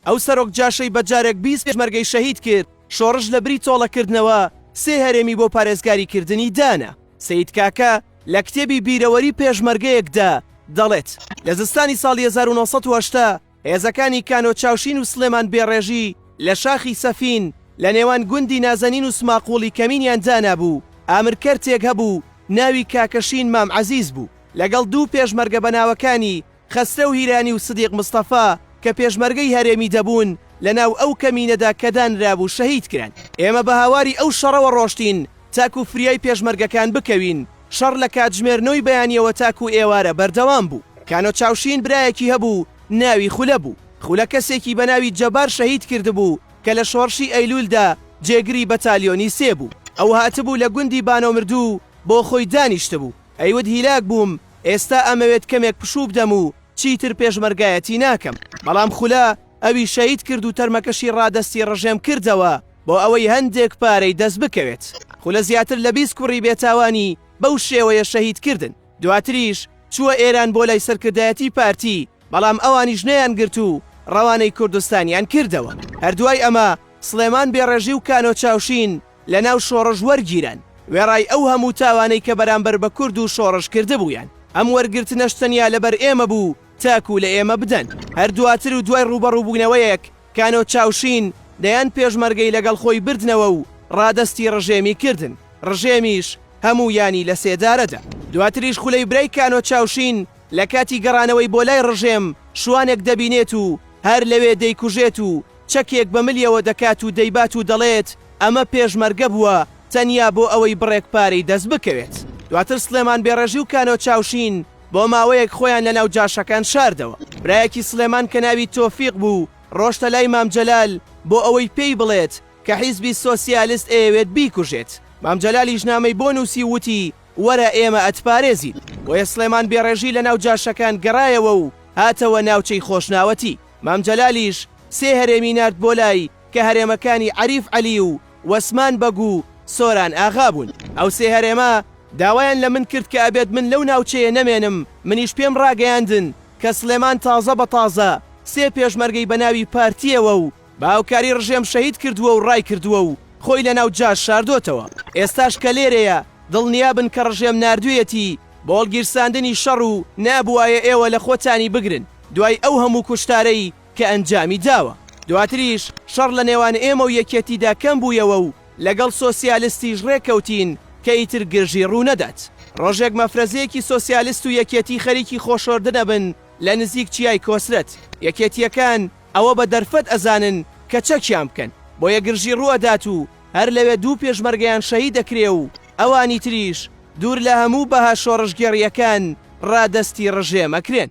ئەو سەرۆک جاشەی بە جارێک بیست پێشمەرگەی شەهید کرد، شۆڕش لە بری تۆڵە کردنەوە سێ هەرێمی بۆ پارێزگاری کردنی دانا. سەید کاکە لە کتێبی بیرەوەری پێشمەرگەیەک دا دەڵێت، لە زستانی ساڵی هەزار و نۆ سەد و هەشتا هێزەکانی کانۆ چاوشین و سلێمان بێڕێژی لە شاخی سەفین لە نێوان گوندی نازەنین و سماقوڵی کەمینیان دانابوو، ئامر کەرتێک هەبوو ناوی کاکە شین مام عەزیز بوو لەگەڵ دوو پێشمەرگە بە ناوەکانی، خەسرەو هیرانی و سدیق مستەفا کە پێشمەرگەی هەرێمی دەبوون لە ناو ئەو کەمینەدا کە دانرابوو شەهید کران. ئێمە بە هاواری ئەو شەڕەوە ڕۆشتین تاکوو فریای پێشمەرگەکان بکەوین. شەڕ لە کاتژمێر نۆی بەیانییەوە تاکوو ئێوارە بەردەوام بوو. کانۆ چاوشین برایەکی هەبوو ناوی خولە بوو. خولە کەسێکی بە ناوی جەبار شەهید کردبوو کە لە شۆڕشی ئەیلوولدا جێگری بەتالیۆنی سێ بوو. ئەو هاتبوو لە گوندی بانۆمردوو بۆ خۆی دانیشتبوو. ئەیوت هیلاک بووم، ئێستا ئەمەوێت کەمێک پشوو بدەم و چیتر پێشمەرگایەتی ناکەم، بەڵام خولە ئەوی شەهید کرد و تەرمەکەشی ڕادەستی ڕژێم کردەوە بۆ ئەوەی هەندێک پارەی دەست بکەوێت، خولە زیاتر لە بیست کوڕی بێتاوانی بەو شێوەیە شەهید کردن، دواتریش چووە ئێران بۆ لای سەرکردایەتی پارتی، بەڵام ئەوانیش نەیانگرت و ڕەوانەی کوردستانیان کردەوە، هەر دوای ئەمە سڵێمان بێڕێژی و کانۆ چاوشین، لەناو شۆڕش وەرگیران، وێڕای ئەو هەموو تاوانەی کە بەرامبەر بە کورد و شۆڕش کردبوویان، ئەم وەرگرتنەش تەنیا لەبەر ئێمە بوو تاکوو لە ئێمە بدەن. هەر دواتر و دوای ڕووبەڕووبوونەوەیەک کانۆ چاوشین دەیان پێشمەرگەی لەگەڵ خۆی بردنەوە و ڕادەستی ڕژێمی کردن، ڕژێمیش هەموویانی لە سێدارە دا. دواتریش خولەی برای کانۆ چاوشین لە کاتی گەڕانەوەی بۆ لای ڕژێم شوانێک دەبینێت و هەر لەوێ دەیکوژێت و، چەکێک بە ملیەوە دەکات و دەیبات و دەڵێت ئەمە پێشمەرگە بووە تەنیا بۆ ئەوەی بڕێک پارەی دەست بکەوێت. دواتر سڵێمان بێڕێژی و کانۆ چاوشین بۆ ماوەیەک خۆیان لە ناو جاشەکان شاردەوە. برایەکی سڵێمان کە ناوی تۆفیق بوو ڕۆشتە لای مام جەلال بۆ ئەوەی پێی بڵێت کە حیزبی سۆسیالست ئەیەوێت بیکوژێت. مام جەلالیش نامەی بۆ نووسی و وتی وەرە ئێمە ئەتپارێزین. بۆیە سڵێمان بێڕێژی لە ناو جاشەکان گەڕایەوە و هاتەوە ناوچەی خۆشناوەتی. مام جەلالیش سێ هەرێمی نارد بۆ لای کە هەرێمەکانی عەریف عەلی و وەسمان بەگ و سۆران ئاغا بوون. ئەو سێ هەرێمە داوایان لە من کرد کە ئەبێت من لەو ناوچەیە نەمێنم، منیش پێم ڕاگەیاندن کە سڵێمان تازە بە تازە سێ پێشمەرگەی بە ناوی پارتییەوە و بە هاوکاری ڕژێم شەهید کردووە و ڕایکردووە و خۆی لە ناو جاش شاردۆتەوە. ئێستاش کە لێرەیە دڵنیا بن کە ڕژێم ناردوویەتی بۆ هەڵگیرساندنی شەڕ و نەبوایە ئێوە لە خۆتانی بگرن. دوای ئەو هەموو کوشتارەی کە ئەنجامی داوە. دواتریش شەڕ لە نێوان ئێمە و یەکێتیدا کەم بوویەوە و لەگەڵ سۆسیالستیش ڕێک کەوتین کە ئیتر گرژی ڕوو نەدات. ڕۆژێک مەفرەزەیەکی سۆسیالست و یەکێتی خەریکی خۆشۆردن ئەبن لە نزیک چیای کۆسرەت. یەکێتییەکان ئەوە بە دەرفەت ئەزانن کە چەکیان بکەن. بۆیە گرژی ڕوو ئەدات و هەر لەوێ دوو پێشمەرگەیان شەهید ئەکرێ و ئەوانی تریش دوور لە هەموو بەها شۆڕشگێڕییەکان ڕادەستی ڕژێم ئەکرێن.